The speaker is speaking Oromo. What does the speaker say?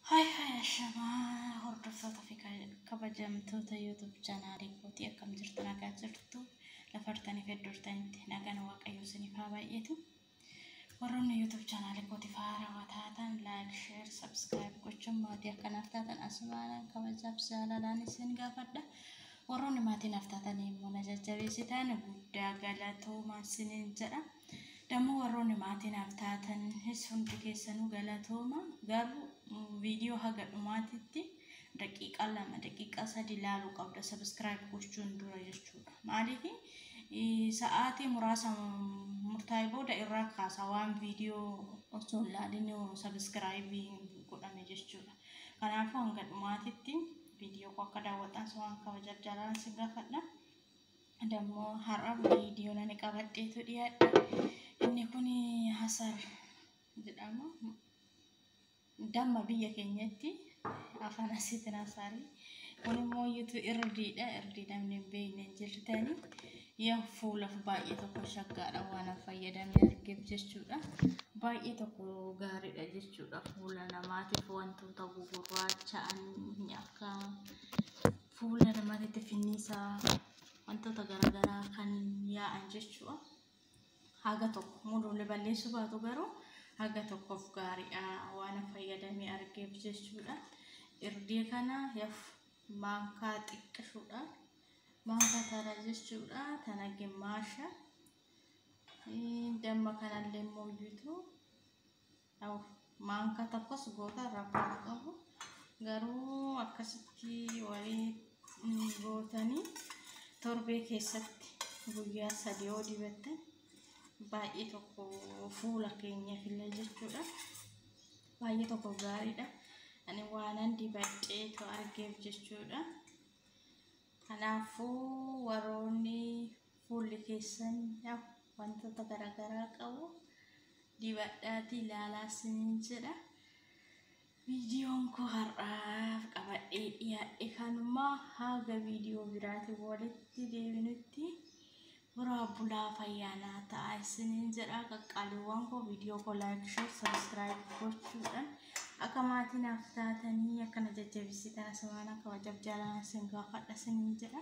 Hai hai ashamaa hordoftoota fi kabajamtoota YouTube chaanaalii kootii akkam jirtu nagaa jirtu lafartanii fi iddortanitti nagaan waaqayyoo isiniif haa baay'eetu. Warroonni YouTube chaanaalii kootiif haarawaa taatan like, share, subscribe gochuun maatii akka naaf taatan asumaanaan kabajaaf jaalalaan isin gaafadha. Warroonni maatii naaf taatan immoo na jajjabeessitan guddaa galatoomaa isiniin jedha. Dammoo warroonni maatii naaf taatanis hundi keessanuu galatooma. Garuu viidiyoo haga dhumaatitti daqiiqaa lama daqiiqaa sadi ilaaluu qabda sabiskiraayib gochuun dura jechuudha. Maaliif sa'aatii muraasa murtaa'e booda irraa kaasa waan viidiyoo osoo hin laalin sabiskiraayibii godhame jechuudha. Kanaafuu hanga dhumaatitti viidiyoo koo akka daawwatan waan kabaja jalaan si gaafadha. Dammo har'a viidiyoo nani qabadheetu dhiyaadhe. Inni kun hasar jedhama. Damma biyya keenyatti afaan asiitiin hasaari. Kun immoo yuutu irdiidha. Irdii namni hin beekne hin jirtani. Yaa fuulaaf baay'ee tokko shaggaadha waan an fayyadame argeef jechuudha. Baay'ee tokko gaariidha jechuudha. Fuula namaatiif wantoota gugurraacha'an akka fuula namatitti finniisaa wantoota garaagaraa kan yaa'an jechuudha. Haga tokko muduulee balleessuu baatu garuu haga tokkoof gaariidha waan fayyadamee argeef jechuudha. Irdii kana yaf maankaa xiqqishuudha. Maankaa tana jechuudha tana gimmaasha. Damma kanallee immoo bituu. Aww maanka tokkos goota rakkoon qabu garuu akkasitti walii gootanii torbee keessatti guyyaa sadii yoo dibatte baay'ee tokko fuula keenyaaf illee jechuudha baay'ee tokko gaariidha ani waanan dibadhee to argeef jechuudha kanaafuu warroonni Fuulli keessan ya wantoota garaagaraa qabu dibadhaatii ilaalaa isiniin jedha. Viidiyoon koo har'aaf qabadhee dhiyaadhe kanuma haga viidiyoo biraatiin walitti deebinutti horaa bulaa fayyaanaa ta'a isiniin jedha qaqqaaliiwwan koo viidiyoo koo laayik sheer sabiskiraayib gochuudhaan akka maatii naaf taatanii akkana jajjabeessitan asumaan akka wajjab jaalaan isin gaafadha isiniin jedha